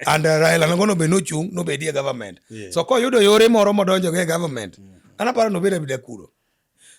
and uh, Raila nongo nobed nochung' nobedie government yeah. so koyudo yore moro modonjo go e government yeah. an aparo nobed abeda kuro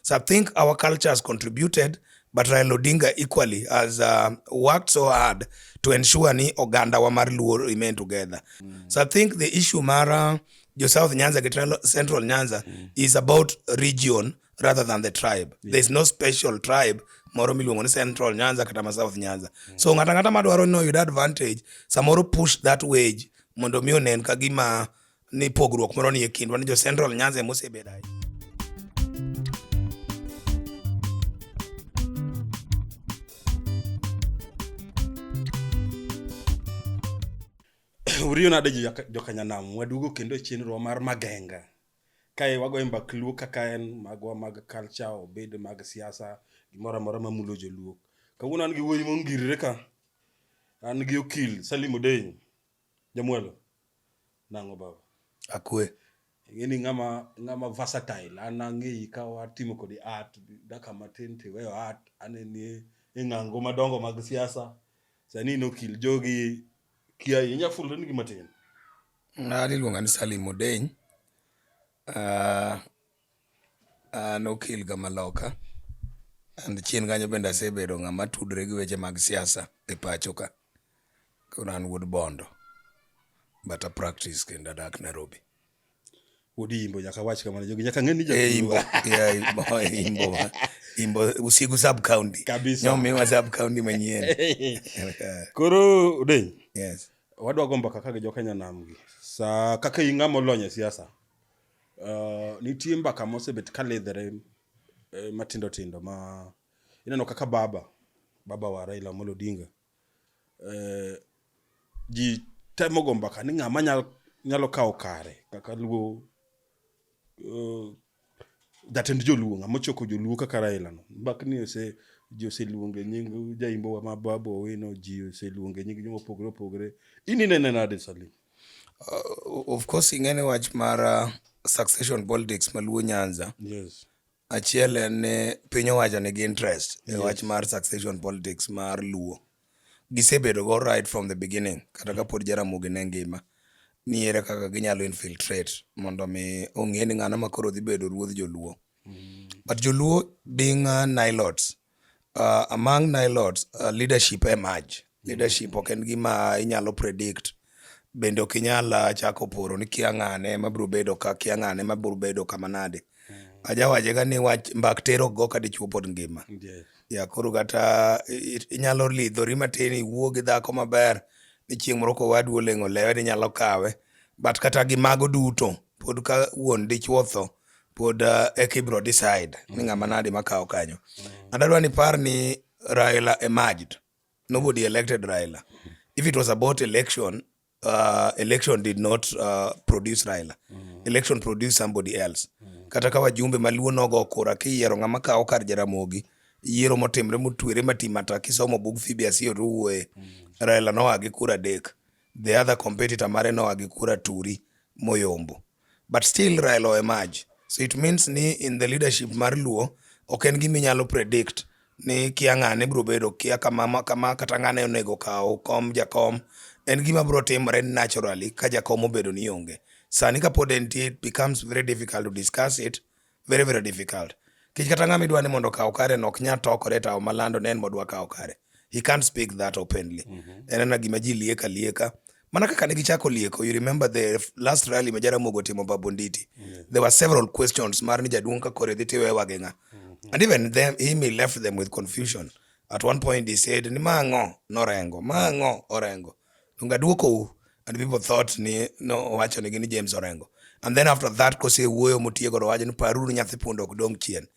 so I think our culture has contributed but Raila Odinga equally has uh, worked so hard to ensure ni oganda wa mar Luo remain together mm. so I think the issue mara jo South Nyanza gi Central Nyanza mm. is about region rather than the tribe yeah. there's no special tribe moro miluongo ni central nyanza kata ma south nyanza mm. so ng'ata ng'ata madwaro ni oyud advantage samoro push that wage mondo mi onen ka gima ni pogruok moro ni e kindwa ni jo central nyanza emosebedo ahinya uriyo nade jokanyanam wadugo kendo e chenrowa mar magenga Kae wagoyo mbak Luo kaka en magwa mag culture obed mag siasa gimoro amora mamulo joluo. Kawuono an gi wuoyi mongirre ka, an gi okil Salim Odenyo, Jamwelo. Nang'o baba? Akwe. Ing'e ni ng'ama ng'ama versatile, an ang'eyi ka watimo kodi art, dakika matin tiweyo art, aneni e e ng'ango madongo mag siasa, sani in okil, jogi kiayi, inya fulrenigi matin? Ng'ani iluonga ni Salim Odeny, ah, an okil ga ma loka. And chien kanyo bende asebedo ng'ama tudre gi weche mag siasa e pacho ka. Koro an wuod Bondo, but a practice kendo adak Nairobi. Udi imbo nyaka wach kamano jogi nyaka ng'e ni ja eh, imbo yeah, imbo imbo imbo usigu sub county kabisa nyomi wa sub county manyien koro udeny yes wadwa gomba kaka gi jokenya nam gi sa kaka inga molony e siasa uh, nitie mbaka mosebet ka ledhere eh, matindo tindo ma ineno kaka baba baba wa Raila Amolo Odinga eh, ji temo go mbaka ni ng'ama nyalo, nyalo kawo kare kaka luo uh, jatend joluo ng'ama ochoko joluo kaka Raila no mbakni ose ji oseluonge nying jaimbo wa ma Babu Owino ji oseluonge nying joma opogore opogore in inene nade Salim? Uh, of course ing'e ni wach mar uh, succession politics ma luo nyanza Yes. Achiel en ni piny owacho nigi interest e wach mar succession politics mar Luo. Gisebedo go right from the beginning kata kapod Jaramogi ne ngima ni ere kaka ginyalo infiltrate mondo mi ong'e ni ng'ano ma koro dhi bedo ruodh Joluo. But Joluo being uh, nilots, Uh, among Nilots, uh, leadership emerge. Leadership ok en gima inyalo predict. Bende ok inyal uh, chako poro ni kia ng'ane ma biro bedo ka, kia ng'ane ma biro bedo kama nade. Mm. Ajawaje ga ni wach mbak tero go ka dichwo pod ngima. Yes. Ya koro kata inyalo lidhori matin iwuo gi dhako maber ni chieng' moro kowadu oleng'o lewe ni nyalo kawe. But kata gi mago duto pod ka wuon dichwo tho pod uh, eka ibro decide ni ng'ama nadi makawo kanyo and adwa ni par ni raila emerged nobody elected raila if it was about election uh, election did not uh, produce raila election produced somebody else kata ka wajumbe maluo nogo kura kiyiero ng'ama kawo kar jaramogi yiero motimre motwere matimata kisomo bug fibiasio to wuoye raila noa gi kura adek the other competitor mare noa gi kura turi moyombo but still Raila o emerge so it means ni in the leadership mar Luo ok en gima inyalo predict ni kia ng'ane biro bedo kia kama kama kata ng'ane onego kaw kom jakom en gima biro timore naturally ka jakom obedo ni onge sani kapod entie it becomes very difficult to discuss it very very difficult kech kata ng'ama idwa ni mondo okaw kare no ok nya tokore tawo malando ne en modwa kawo kare he can't speak that openly mm -hmm. en ana gima ji lieka lieka mana kaka ne gichako lieko you remember the last rally ma jaramogo timo babonditi mm -hmm. there were several questions mar ni jaduong' ka kore dhi tiwe wage ng'a mm -hmm. and even them, him he left them with confusion at one point he said ni ma ng'o norengo ma ng'o orengo Donge adwokou? And people thought ni nowacho nigi ni James Orengo. And then after that kosewuoyo motiego to wacho ni paruru nyathi punda ok dong' chien.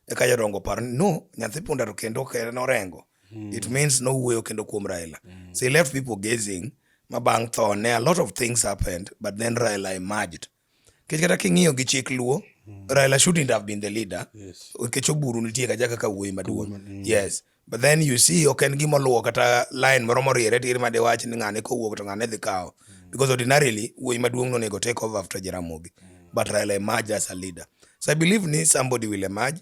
Eka jodongo paro ni no, nyathi punda to kendo ok en Orengo. Mm. It means no wuoyo kendo kuom Raila. Mm. So he left people gazing ma bang' thone a lot of things happened but then Raila emerged. Mm. Nikech kata king'iyo gi chik Luo, mm. Raila shouldn't have been the leader. Nikech oburu nitie kaja kaka wuoyi maduong'. Mm. Yes. But then you see ok en gima oluwo kata line moro moriere tir ma diwach ni ng'ane kowuok to ng'ane dhi kawo. Mm. Because ordinarily wuoyi maduong' nonego take over after Jaramogi. But Raila emerged as a leader. So I believe ni somebody will emerge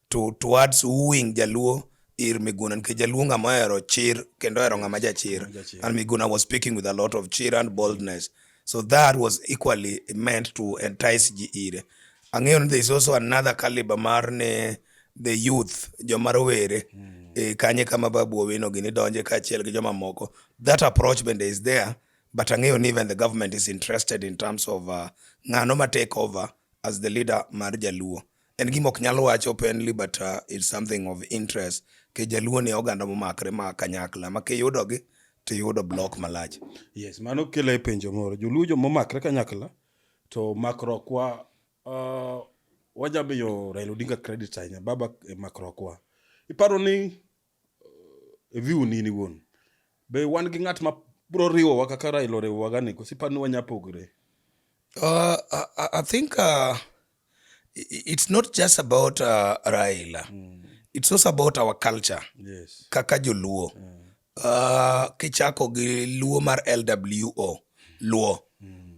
To towards wooing Jaluo ir Miguna nikech Jaluo ng'ama ohero chir kendo ohero ng'ama jachir. And Miguna was speaking with a lot of cheer and boldness. So that was equally meant to entice ji ire. Ang'eyo ni there is also another caliber mar ne the youth, joma rowere. Mm. E, kanye kama Babu Owino gini donje kaachiel gi joma moko. That approach bende is there, but ang'eyo ni even the government is interested in terms of uh, ng'ano ma take over as the leader mar Jaluo. En gima ok nyal wach openly but uh, it's something of interest ke jaluo ni oganda momakre ma kanyakla ma kiyudogi to iyudo blok malach. Yes, mano kele e penjo moro. Joluo jo momakre kanyakla to makrokwa uh, wajabiyo Raila Odinga credit ahinya baba e makrokwa. Iparo ni e view ni in iwuon be wan gi ng'at ma bro riwowa kaka raila oriwowaga ni koso iparo ni wanya pogre Uh, I, I- I think uh, i- i- it's not just about uh, Raila. It's also about our culture. yes Kaka Joluo. Uh, kichako gi Luo mar LWO. Luo.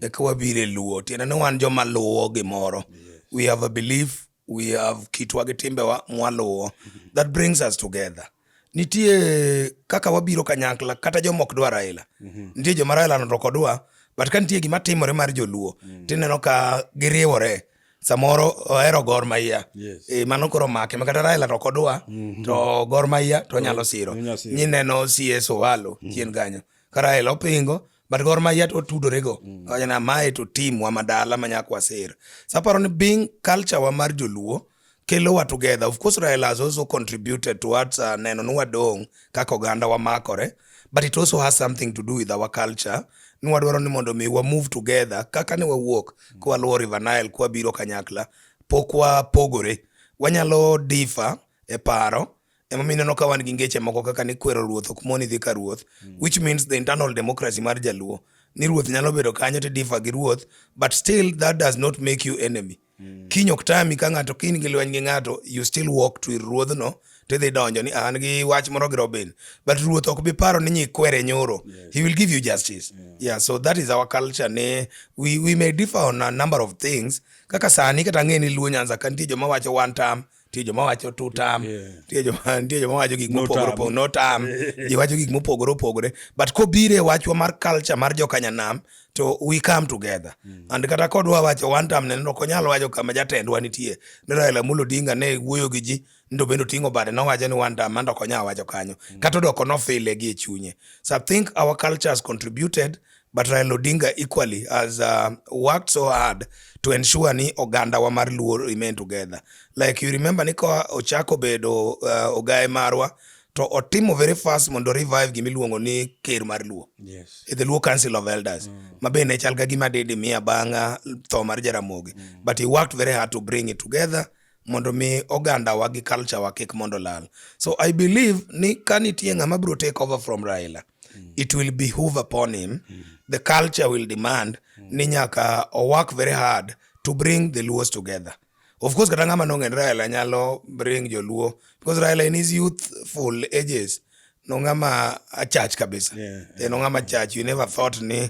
Eka wabire Luo. Tiende ni wan joma luwo gimoro. We have a belief we have kitwa gi timbewa mwaluwo that brings us together nitie kaka wabiro kanyakla kata joma ok dwa Raila mhm. nitie joma Raila noto kodwa but ka nitie gima timore mar joluo mm. tineno ka giriwore samoro ohero Gor Mahia yes. E, mano koro make makata Raila to kodwa mm -hmm. to Gor Mahia to nyalo siro nyineno CS Owalo mm -hmm. chien kanyo ka Raila opingo but gor mahia to otudorego mm. wachana mae to team wa madala ma nyaka waser so aparo ni being culture wa mar joluo kelo wa together of course raila has also contributed towards uh, neno ni wadong' kaka oganda wamakore but it also has something to do with our culture ni wadwaro ni mondo mi wa move together kaka ne wawuok mm. kwa luwo river nile kwa biro kanyakla pok wapogore wanyalo difa e paro emomiyo ineno ka wan gi ngeche moko kaka ni kwero ruoth ok moni dhi ka ruoth mm. which means the internal democracy mar jaluo ni ruoth nyalo bedo kanyo to difa gi ruoth but still that does not make you enemy mm. kiny ok tami ka ng'ato kiny gi lweny gi ng'ato you still walk to ir ruodhno tidhi donjo ni an gi wach moro gi robin but ruoth ok bi paro ni nyikwere nyoro yes. he will give you justice yeah. yeah so that is our culture ne we, we may differ on a number of things kaka sani kata ng'e ni luo nyanza ka nitie joma wacho one term nitie joma wacho two term nitie joma nitie joma wacho gik mopogore opogore no term ji wacho gik mopogore opogore but kobire wachwa mar culture mar jokanyanam to we come together mm. and kata kodwa wacho one term ne ok onyal wacho kama jatendwa nitie ne Raila Amolo Odinga ne wuoyo gi ji ndo bende oting'o bade nowacho ni one term mando ok onyal wacho kanyo mm. kata odoko nofile gi e chunye so I think our culture has contributed But Raila Odinga equally has uh, worked so hard to ensure ni oganda wa mar Luo remain together. Like you remember ni ka ochako bedo uh, ogaye marwa to otimo very fast mondo revive gima iluongo ni ker mar Luo. Yes. E the Luo Council of Elders. Mm. Ma be ne chal ga gima dede miya bang'a tho mar Jaramogi. Mm. But he worked very hard to bring it together mondo mi oganda wa gi culture wa kik mondo lal. So I believe ni ka nitie ng'ama bro take over from Raila. Mm. mm. it will behoove upon him mm. the culture will demand mm. ni nyaka o work very hard to bring the luos together of course kata ng'ama nong'en raila nyalo bring joluo because raila in his youthful ages nong'ama achach kabisa yeah, yeah. nong'ama chach you never thought ni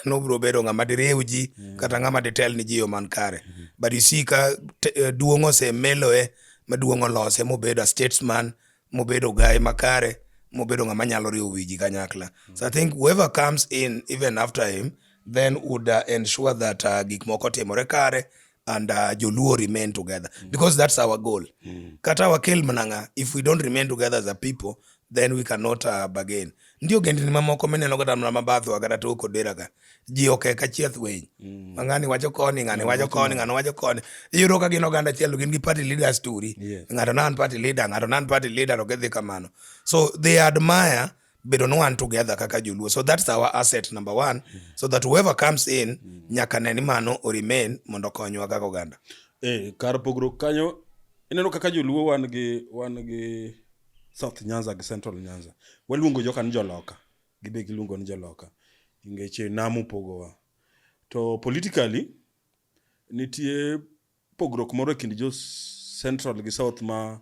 nobro bedo ng'ama diriw ji mm. kata ng'ama ditel ni ji yo man kare mm -hmm. but you see ka eh, duong' osemeloe maduong' olose mobedo a statesman mobedo gaye makare mobedo ng'ama nyalo riwo wiji kanyakla so i think whoever comes in even after him then would uh, ensure that uh, gik moko timore kare and uh, joluo remain together mm. because that's our goal mm. kata wakel mnanga if we don't remain together as a people then we cannot uh, bargain ndio gendini mamoko mineno kata mna mabatho kata toko dera ka ji oke ka chieth winy mm. ma ng'ani wacho koni ng'ani wacho koni ng'ani wacho koni iyudo ka gin oganda achiel gin gi party leaders turi yes. ng'ato nan party leader ng'ato nan party leader ok idhi kamano so they admire bedo ni wan together kaka joluo so that's our asset number one mm. so that whoever comes in mm. nyaka ne ni mano o remain mondo okonywa kaka oganda eh, kar pogruok kanyo ineno kaka joluo wan gi wan gi south nyanza gi central nyanza waluongo joka ni joloka Gibe giluongo ni jaloka. Ngeche nam upogowa. To politically, nitie pogruok moro e kind jo central gi south ma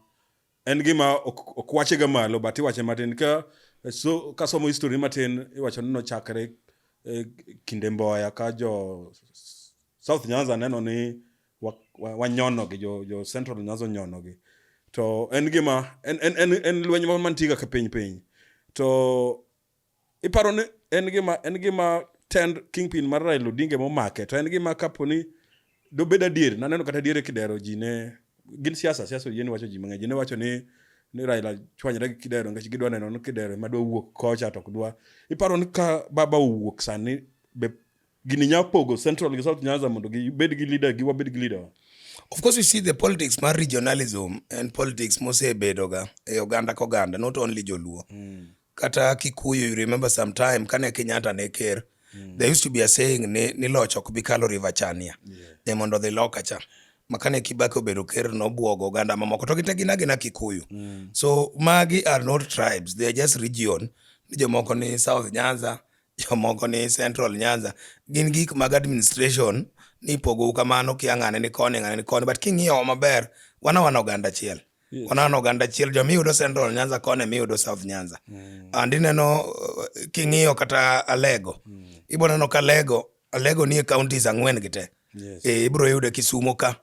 en gima ok wache ga malo but iwache matin ka so ka somo history matin iwacho ni nochakre e, kinde mboya ka jo south nyanza neno ni wanyonogi jo, jo central nyazo nyonogi to en gima en, en, en, en lweny moro mantiga ka piny piny to iparo ni en gima en gima tend kingpin mar Raila Odinga momake to en gima kapo ni dobed adier naneno kata adier e kidero ji ne gin siasa siasa oyie ni wacho ji mang'eny ji ne wacho ni ni Raila chwanyre gi kidero nikech gidwa neno ni kidero ema dwa wuok kocha to ok dwa iparo ni ka baba owuok sani be Gini nya pogo Central gi South Nyanza mondo gibed gi leader gi wabed gi leader. Of course you see the politics mar regionalism and politics mosebedo ga e oganda ka oganda not only Joluo. Mm. Kata Kikuyu you remember some time kane Kenyatta ne ker. Mm. There used to be a saying ni, ni loch ok bi kalo River Chania. Yeah. Ne mondo dhi loka cha. Makane Kibaki obedo ker nobwogo oganda mamoko to gite gina gina Kikuyu. Mm. So magi are not tribes, they are just region. Ni jomoko ni South Nyanza, Jomoko ni central nyanza gin gik mag administration ni ipogou kamano kia ng'ane ni koni ng'ane ni koni but king'iyowa maber wan awana oganda achiel wan awana oganda achiel joma iyudo central nyanza koni ema iyudo south nyanza and ineno uh, king'iyo kata alego ibo neno ka alego alego nie counties ang'wen gi te Yes. Eh, ibiro yude kisumo ka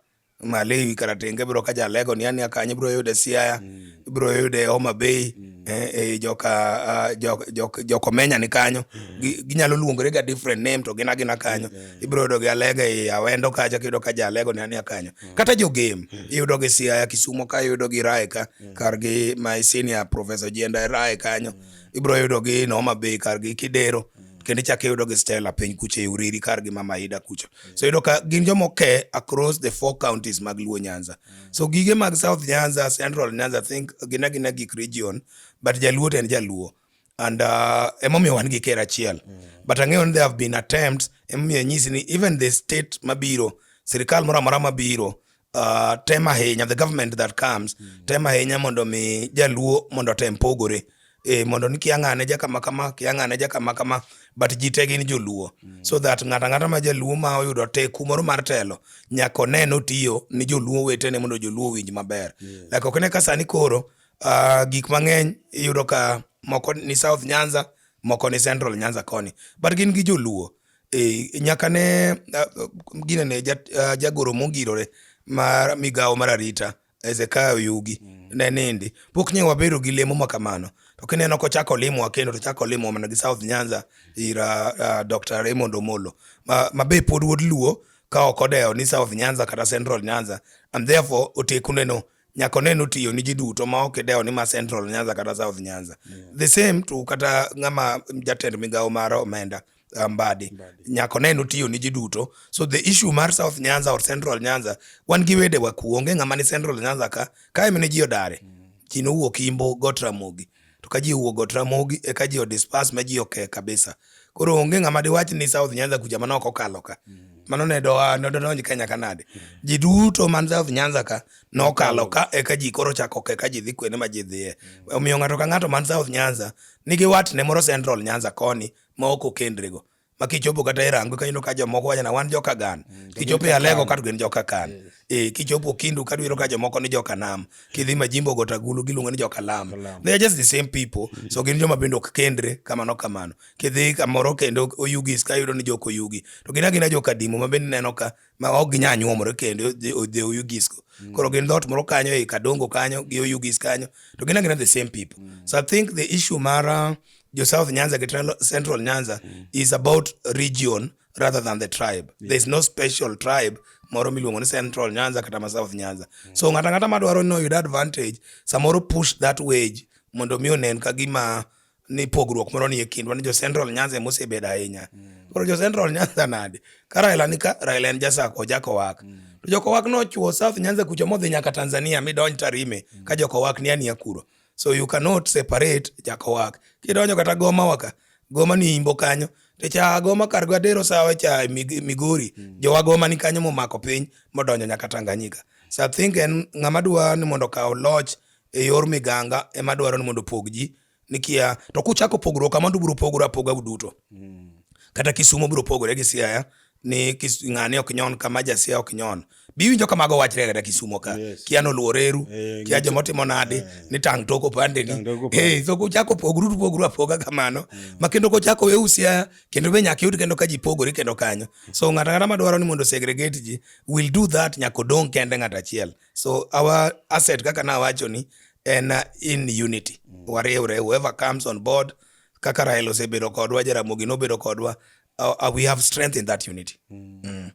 Malewi kara tenge bro ka jalego ni ania kanyo bro yude Siaya mm. bro yude Homa Bay mm. eh, eh, joka uh, jok, jok, jokomenya ni kanyo mm. ginyalo luongore ga different name to gina gina kanyo mm. mm. ibro yudo gi Alego e Awendo kacha kiyudo ka jalego ni ania kanyo mm. kata jo game mm. iyudo gi Siaya Kisumo ka iyudo gi Rae ka mm. kar gi my senior professor Jenda Rae kanyo mm. ibro yudo gi Homa Bay kar gi Kidero mm. kendo ichak iyudo gi Stella piny kucha e Uriri kar gi Mama Ida kucha so yudo ka gin joma oke across the four counties mag luo nyanza so gige mag south nyanza central nyanza I think gina gina gik region but jaluo to en jaluo and uh, emomiyo wan gi ker achiel but ang'eyo ni there have been attempts emomiyo nyisi ni even the state mabiro sirikal moro amora mabiro uh, tem ahinya the government that comes mm. tem ahinya mondo mi jaluo mondo otem pogore e, mondo ni kia ng'ane ja kama kama kia ng'ane ja kama kama but ji te gin joluo mm. so that ng'ata ng'ata ma jaluo ma oyudo teku moro mar telo nyaka one notiyo ni joluo wetene mondo joluo winj maber yeah. like ok ne ka sani koro uh, gik mang'eny iyudo ka moko ni south nyanza moko ni central nyanza koni but gin gi joluo Eh, nyaka ne uh, gine ne ja, uh, jagoro mongirore mar migawo mar arita Hezekia Oyugi mm. ne nindi pok nye wabedo gi lemo ma kamano to kineno kochako limo wa kendo to chako limo mana gi South Nyanza ira uh, uh Dr. Raymond Omolo ma, ma be pod wuod Luo ka ok odewo ni South Nyanza kata Central Nyanza and therefore oteku neno nyaka oneno otiyo ni ji duto ma ok idewo ni ma Central Nyanza kata South Nyanza yeah. the same to kata ng'ama jatend migawo mar omenda mm. uh, Mbadi nyako ne notiyo ni ji duto so the issue mar South Nyanza or Central Nyanza wan gi wede waku onge ng'ama ni Central Nyanza ka kae mene ji odare mm. ji nowuok Imbo Got Ramogi to ka ji owuok Got Ramogi eka ji odispas ma ji oke kabisa koro onge ng'ama diwach ni South Nyanza kucha mano ok okalo ka mm. mano ne doa ne donj Kenya ka nade mm. ji duto man South Nyanza ka nokalo ka eka ji koro chako ke ka ji dhi kwene ma ji dhiye omiyo ng'ato ka ng'ato man South Nyanza nigi watne moro Central Nyanza koni ma ok okendrego ma kichopo kata irango ka ineno ka jomoko wacho na wan joka gan mm, kichopo e alego ka gin joka kan e kichopo kindu ka duiro ka jomoko ni joka nam kidhi majimbo gota gulu giluongo ni joka lam they are just the same people mm. so gin joma bende ok kendre kamano kamano kidhi kamoro kendo oyugis ka yudo ni joka oyugi to gina gina joka dimo ma bende neno ka ma ok ginyal nyuomore kendo odhe oyugisgo mm. koro gin dhot moro kanyo ei kadongo kanyo gi oyugis kanyo to gin agina the same people mm. so i think the issue mara jo south nyanza gi central nyanza mm. is about region rather than the tribe yeah. there is no special tribe moro miluongo ni central nyanza kata ma south nyanza mm. so ng'ata ng'ata madwaro ni oyud advantage samoro push that wage mondo mi onen ka gima ni pogruok moro ni e kindwa ni jo Central Nyanza ema osebedo ahinya. Mm. Koro jo Central Nyanza nade? Ka Raila ni ka Raila en jasako jakowak. Mm. To jokowak nochuo South Nyanza kucho modhi nyaka Tanzania midonj Tarime mm. ka jokowak ni ania kuro. So you cannot separate jakowak. Kidonjo kata Goma waka, Goma ni imbo kanyo. To cha Goma kar Gwadero sawa cha Migori, mm. jowa Goma ni kanyo momako piny modonjo nyaka Tanganyika. So I think en ng'ama dwa ni mondo kaw loch e yor miganga ema dwaro ni mondo opog ji nikia to kuchako pogruok kama to ubiro pogore apoga uduto mm. kata Kisumo biro pogore gi Siaya ni ng'ani ok nyon kama ja Siaya ok nyon biwinjo ka mago wachre kata Kisumo ka yes. kia noluoreru hey, eh, kia joma otimo nadi hey. Eh. ni tang' toko pande ni hey, eh, so kuchako pogru to pogru apoga kamano hey. Mm. ma kendo kuchako we usia kendo be nyaka yud kendo ka ji pogore kendo kanyo so ng'ata ng'ata ma dwaro ni mondo segregate ji will do that nyaka odong' kende ng'ata achiel So our asset kaka nawacho ni en uh, in unity. Mm. Wariwre whoever comes on board kaka Rael osebedo kodwa, Jaramogi nobedo kodwa. Uh, uh, we have strength in that unity. Mm. Mm.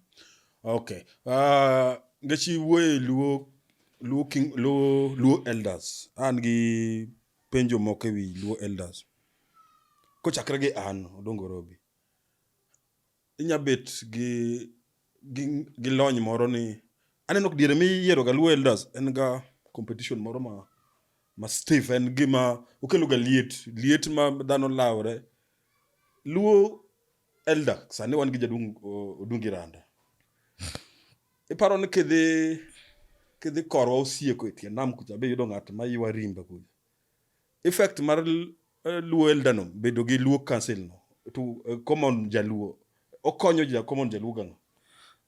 Okay. Uh, ngechi wuoye luo luo king luo luo elders. An gi penjo moko ewi luo elders. Kochakre gi an Odongo Robi. inya bet gi gi, gi lony moro ni aneno diere miyiero ga luo elders en ga competition moro ma ma stiff en gima okelo ga liet liet ma dhano lawre luo elder sani wan gi jaduong' odungi randa iparo ni kidhi kidhi korwa osieko e tie nam kucha be yudo ng'at ma ywa rimba kucha effect mar eh, luo elder no bedo gi luo council no to eh, common jaluo okonyo ja common jaluo gano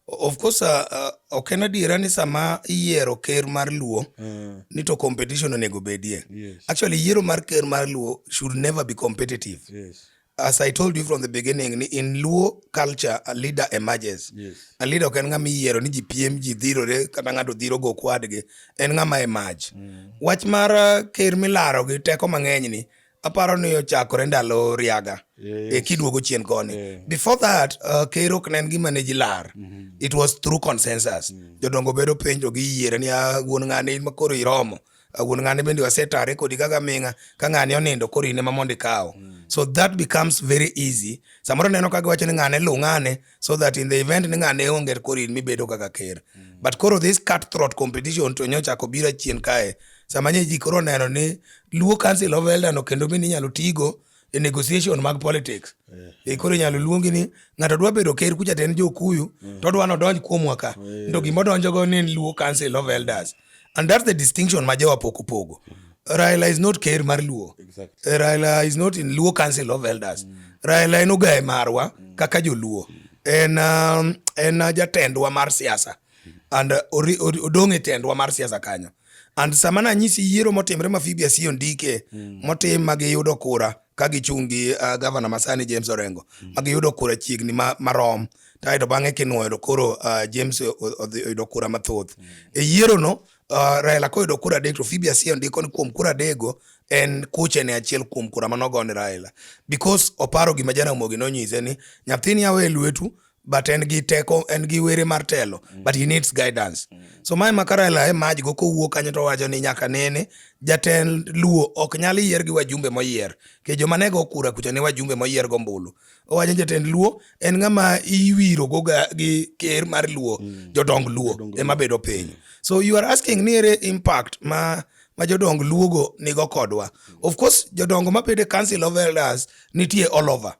of course uh, uh, ok en adiera ni sama iyiero ker mar luo mm. ni to competition onego bedie yes. actually yiero mar ker mar luo should never be competitive yes. as I told you from the beginning ni in Luo culture a leader emerges. Yes. A leader ok en ng'ama iyiero ni ji piem ji dhirore kata ng'ato dhiro go kwadgi en ng'ama emerge. Mm. Wach mar uh, ker milaro gi teko mang'eny ni aparo ni ochakore ndalo riaga yes. e kiduogo chien koni yeah. before that uh, ker ok nen gima ne jilar mm -hmm. it was through consensus mm. jodongo bedo penjo gi yiere ni ah, wuon ng'ani makoro iromo Ah, wuon ng'ane bende wasetare kodi kaka ming'a ka ng'ane onindo koro in ema mondo ikawo mm. so that becomes very easy samoro neno ka giwacho ni ng'ane lu ng'ane so that in the event ni ng'ane onge koro in mibedo kaka ker mm. but koro this cut throat competition to nyocha ko bira chien kae sama nye ji koro neno ni luo council of elder no kendo bende inyalo tigo e negotiation mag politics yeah. e koro inyalo luongi ni ng'ato dwa bedo ker kucha ten jokuyu mm. to dwa nodonj kuomwa ka yeah. to gima odonjogo ni luo council of elders and that's the distinction ma jowa pok opogo mm. Raila is not Ker mar Luo. Exactly. Eh, Raila is not in Luo Council of Elders. Mm. Raila en ogaye marwa mm. kaka joluo. Mm. En, um, en uh, jatendwa mar siasa mm. and uh, odong' e tendwa mar siasa kanyo. And sama nanyisi yiero motimre ma Phoebe Asiyo ndike mm. motim ma giyudo kura ka gichung' gi uh, gavana masani James Orengo mm. ma giyudo kura chiegni ma, marom taeto bang'e kinwoyo to koro uh, James oyudo kura mathoth mm. e yierono uh, Raila koyudo kura adek to Phoebe Asiyo ndiko ni kuom kura adego en kuche ne achiel kuom kura manogo ni Raila because oparo gima Jaramogi nonyise ni nyathini awe lwetu but en gi teko en gi were mar telo mm. but he needs guidance mm. so mae makarela e maj go kowuok kanyo to wacho ni nyaka nene jatend luo ok nyal yier gi wajumbe moyier ke joma nego kura kucha ne wajumbe moyier go mbulu owacho jatend luo en ng'ama iwiro go gi ker mar luo mm. jodong luo ema bedo piny so you are asking ni ere impact ma ma jodong luogo nigo kodwa of course jodongo mabede council of elders nitie all over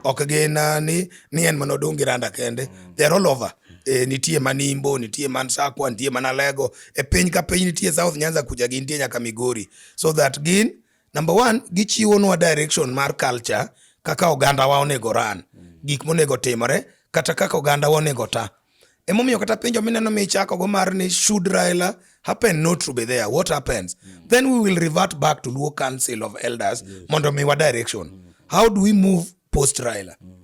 ok gin uh, ni, ni en mana odong' gi randa kende they're all over E, nitie man Imbo, nitie man Sakwa, nitie man Alego. E piny ka piny nitie South Nyanza kuja gi nitie nyaka Migori. So that gin number one gichiwonwa direction mar culture kaka oganda wa onego ran, gik monego timore kata kaka oganda wa onego ta. Emomiyo kata penjo mineno michakogo mar ni should Raila happen not to be there what happens mm. then we will revert back to Luo Council of Elders yes. mondo miwa direction mm. how do we move post Raila mm.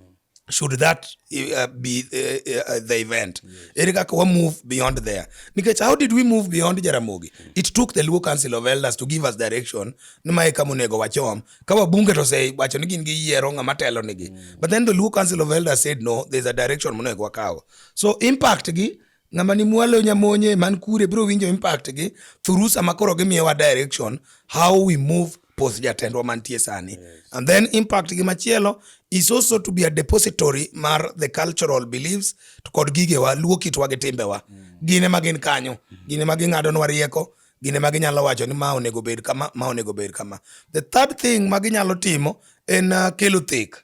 should that uh, be uh, uh, uh the event ere kaka wa move beyond there nikech how did we move beyond Jaramogi mm. it took the Luo Council of Elders to give us direction ni mae kama onego wachom ka wabunge to osewacho ni gin giyiero ng'ama telo nigi mm. but then the Luo Council of Elders said no there's a direction monego wakaw so impact gi ng'ama ni mwalo nyamonye man kure biro winjo impact gi thuru sama koro gimiyowa direction how we move post jatendwa mantie sani yes. and then impact gi machielo is also to be a depository mar the cultural beliefs to kod gigewa luo kitwa gi timbewa mm. gine ma gin kanyo mm. gine ma ging'adonwa rieko gine ma ginyalo wacho ni ma onego bed kama ma onego bed kama the third thing ma ginyalo timo en uh, kelo thek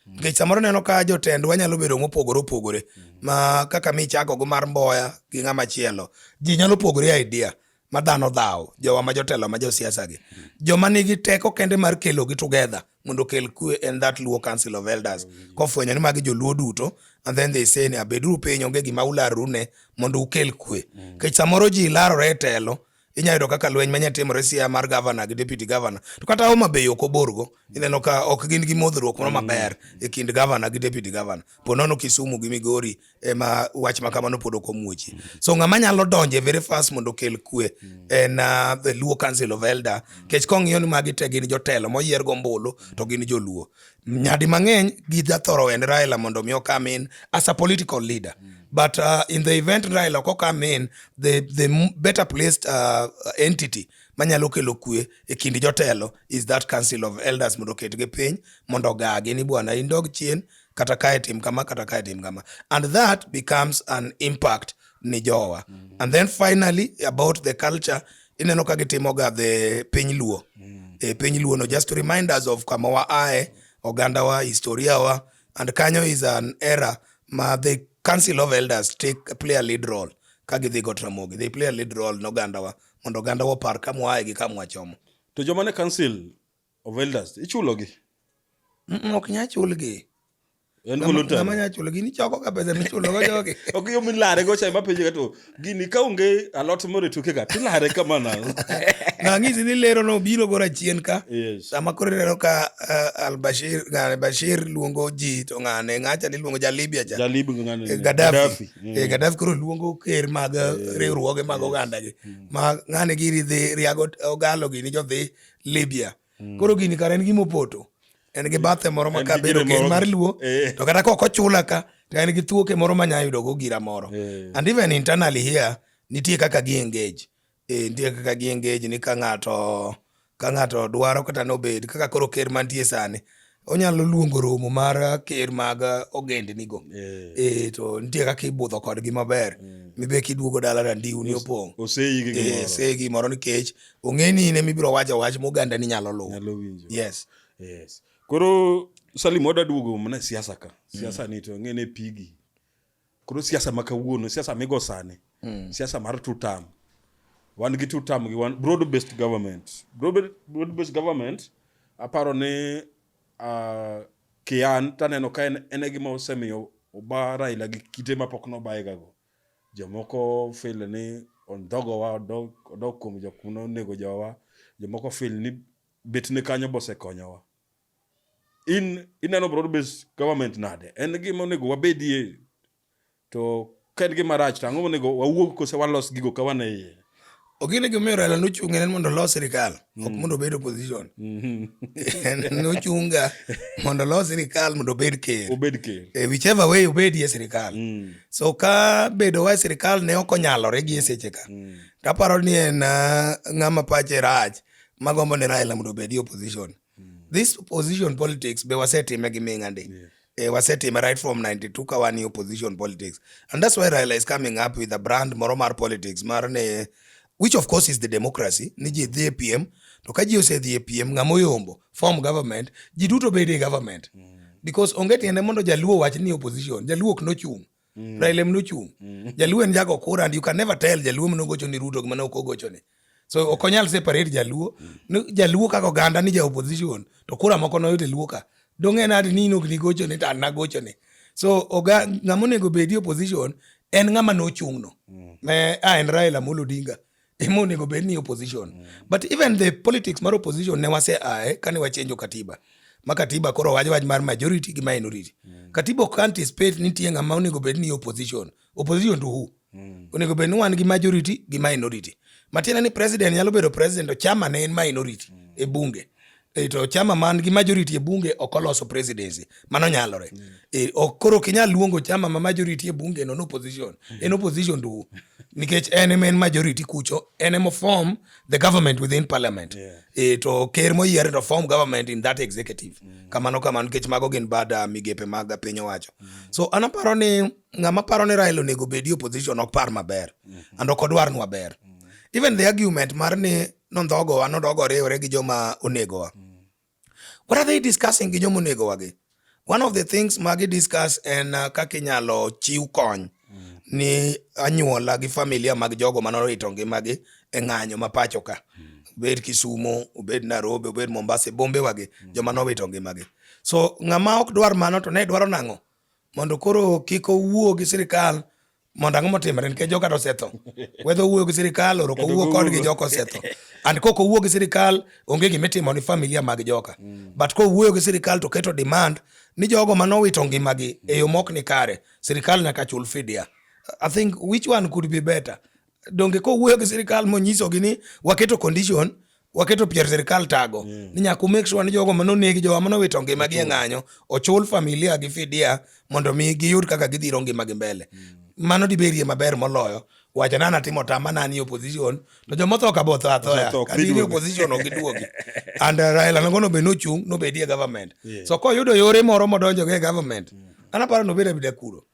nikech samoro neno ka jotendwa nyalo bedo mopogore opogore ma kaka michako go mar mboya gi ng'ama chielo ji nyalo pogore idea ma dhano dhawo jowa ma jotelo ma josiasa gi joma nigi teko kende mar kelogi together mondo okel kue en that Luo Council of Elders kofwenyo ni magi joluo duto and then they say ni abeduru piny onge gima ularru ne mondo ukel kue mm. kech samoro ji larore e telo inya yudo kaka lweny manya timore sia mar gavana gi deputy gavana to kata Homa Bay ok oborgo ineno ka ok gin gi modhruok moro mm. maber e kind gavana gi deputy gavana po nono Kisumu gi Migori ema wach ma kamano pod ok omuochi so ng'ama nyalo donje very fast mondo okel kwe en uh, the luo council of elder kech kong'iyo ni magi te gin jotelo moyier gombulu to gin joluo nyadi mang'eny gijathoro en raila mondo mi okam in as a political leader but uh, in the event raila ok okam in the, the m- better placed uh, entity manyalo kelo kwe e kind jotelo is that council of elders mondo oketgi piny mondo ogagi ni bwana indog chien kata kae tim kama kata kae tim kama and that becomes an impact ni jowa mm -hmm. and then finally about the culture ineno ka gitimoga the piny luo mm -hmm. e piny luo no just to remind us of kama wa ae oganda wa historia wa and kanyo is an era ma the council of elders take play a lead role ka gidhi go tramogi they play a lead role no oganda wa mondo oganda wa par kamwae gi kamwachomo to joma ne council of elders ichulogi Mm, ok nya chulgi en Ng'ama- volunteer ng'ama nya chulgi nichoko ka pesa michulogo jogi ok yo milare go cha mapenje ka to gini ka onge alot moro e toke ka tilare kama na nang'isi ni lero no biro gora chien ka yes sama koro ineno ka uh, albashir ng'ane bashir luongo ji to ng'ane ng'acha ni luongo ja libya cha jalibu ngani Eh, Gaddafi. Eh, Gaddafi koro luongo ker mag eh, riwruoge mag ogandagi ma ng'ane giri dhi riago ogalo gini jodhi Libya. Mm. Koro gini kare en gima opoto. En gi bathe moro ma kabedo keny mar luo. Eh. To kata kok ochula ka, to en gi thuoke moro ma nyalo yudo go gira moro. Eh. And even internally here, nitie kaka gi engage. Eh, nitie kaka gi engage ni ka ng'ato ka ng'ato dwaro kata nobed kaka koro ker mantie sani onyalo luongo romo mar ker mag ogendnigo Eh. eh, to nitie kaka ibudho kodgi maber mibe kiduogo dala randiuni opong' Oseyi gi Eh, gimoro. se gimoro nikech ong'e ni in ema ibiro wacho wach moganda ni nyalo luwo Nyalo winjo. yes Yes. Koro Salim wada duogo mana e siasa ka. Siasa ni to ng'e ne pigi. Koro siasa ma kawuono, siasa migo sani, mm. siasa mar two term. Wan gi two term gi wan broad based government. Broad, broad based government aparo ni uh, kian taneno ka en ene gima osemiyo oba Raila gi kite ma pok nobayega go. Jomoko feel ni ondhogowa odog, odog kuom jok mane onego jowa. Jomoko feel ni bet ne kanyo bosekonyowa. in ineno broad based government nade en gima onego wabedie to ka en gima rach to ang'o monego wawuog kose walos gigo ka wan e iye Ogine gimomiyo Raila nochung' en mondo olos sirikal ok mm. mondo obed opposition. Mm-hmm. Nochunga mondo olos sirikal mondo obed ker. Obed ker. E whichever way obedi e sirikal. Mm. So ka bedo wa e sirikal ne ok onyalore gi e seche ka. Mm. Taparo ni en ah, ng'ama pache rach magombo ni Raila mondo obedi opposition. mm. this opposition politics be wasetime gi minga ndi yeah. eh, wasetime right from 92 ka wan opposition politics and that's why Raila is coming up with a brand moro mar politics mar ne which of course is the democracy ni ji dhi e piem to ka ji osedhi e piem ng'ama oyombo form government ji duto bedo e government mm. because onge tiende mondo jaluo wach ni opposition jaluo ok nochung' Mm. Raila mno chung. Mm. Jaluo en jago kura and you can never tell jaluo mno gocho ni Ruto gima ok ogocho ni. So ok onyal separate jaluo. Mm. Jaluo kaka oganda ni ja opposition to kura moko no yote luo ka. Dong en adi ni nok ni gocho ni tan na gocho ni. So oga ngamo nego bedi opposition en ngama no chung no. Mm. Me a en Raila Molo Odinga. ema onego bed ni opposition mm. but even the politics mar opposition ne wase ae kane wachenjo katiba ma katiba koro wach wach mar majority gi minority mm. katiba ok anticipate ni nitie ng'ama onego bed ni opposition opposition to who mm. onego bed ni wan gi majority gi minority matiende ni president nyalo bedo president to chama ne en minority mm. e bunge E, to chama man gi majority e bunge ok oloso presidency mano nyalore mm. e, ok koro kinyal luongo chama ma majority e bunge no opposition mm. en opposition to nikech en ema en majority kucho en ema form the government within parliament yeah. e, to ker moyier to form government in that executive mm. kamano kamano nikech mago gin bad uh, migepe mag piny owacho mm. so an aparo ni ng'ama paro ni Raila onego obedi opposition ok par maber mm -hmm. and ok odwar nwa ber mm. even the argument mar ni nondhogowa nodog oriwre gi joma onegowa what are they discussing gi joma onegowa gi one of the things ma gi discuss en uh, kaka inyalo chiw kony ni anyuola gi familia mag jogo manorito ngimagi e ng'anyo ma pacho ka obed kisumo obed nairobi obed mombasa e bombewagi joma nowito ngimagi so ng'ama ok dwar mano to ne dwaro nang'o mondo koro kik owuo gi sirikal mondo ang'o motimre nikech joga to osetho wedha owuoyo gi sirikal oroko owuo kodgi joka osetho and kok owuo gi sirikal onge gima itimo ni familia mag joka mm. but kowuoyo gi sirikal to keto demand ni jogo manowito ngimagi e yo mok ni kare sirikal nyaka chul fidia i think which one could be better donge kowuoyo gi sirikal monyisogi ni waketo condition waketo pier sirikal tago mm. ni nyaka make sure ni jogo mane onegi jowa mane owito ngimagi e ng'anyo ochul familia gi fidia mondo mi giyud kaka gidhiro ngimagi mbele mm. mano diberie maber moloyo wacha nana timo tama nani opposition to joma otho ka botho athoya adini opposition ok giduogi and uh, Raila nangono be nochung' nobedi e government yeah. so koyudo yore moro modonjo go e government mm. anaparo nobeda bida kuro